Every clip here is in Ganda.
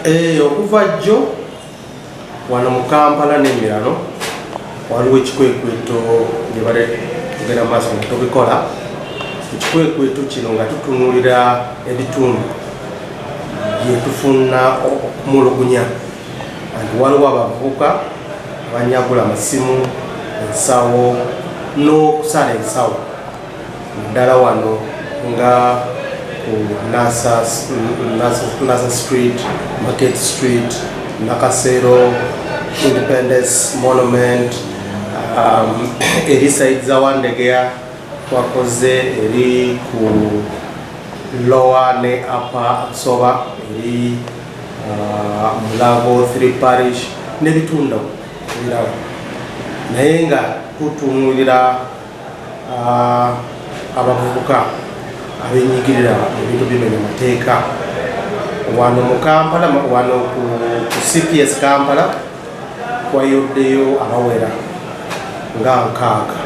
Eh, okuva jjo wano mu kampala n'emirano waliwo ekikwekweto gye bale tugenda mu maaso nga tubikola ekikwekweto kino nga tutunulira ebitundu byetufuna okumulugunya anti waliwo abavubuka abanyagula amasimu ensawo n'okusala ensawo ddala wano nga ku nasa street market street nakasero independence monument um, eri saidi za wandegeya twakoze eri ku lowa ne apa soba eri uh, mulago three parish nebitunda ebirala naye nga tutunulira abavubuka abenyigirira ebintu bimenya amateeka wano mu kampala wano ku cps kampala kwayoddeyo abawera nga nkaaga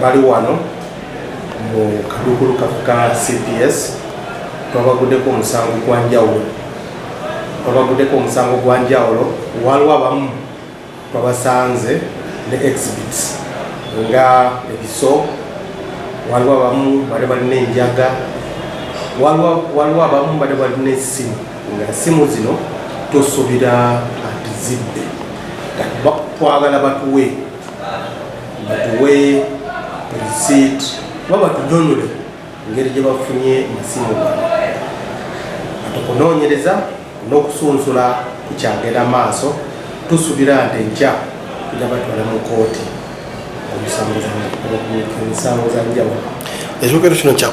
bali wano mu kadukulu kafe ka cps twabaguddeko omusango gwa njawulo twabaguddeko omusango gwa njawulo waliwo abamu twabasanze ne exhibits nga ebiso waliwo abamu bali balina enjaga waliwo abamu bali balina esimu nga esimu zino tosobira atizibbe twagala batuwe batuwe receipt oba batunyonyole ngeri gye bafunye masimu gano ati okunoonyereza n'okusunsula kukyagenda maaso tusubira nti enkya tujja batwala mu kooti omusango za njawulo ekyogero kino kya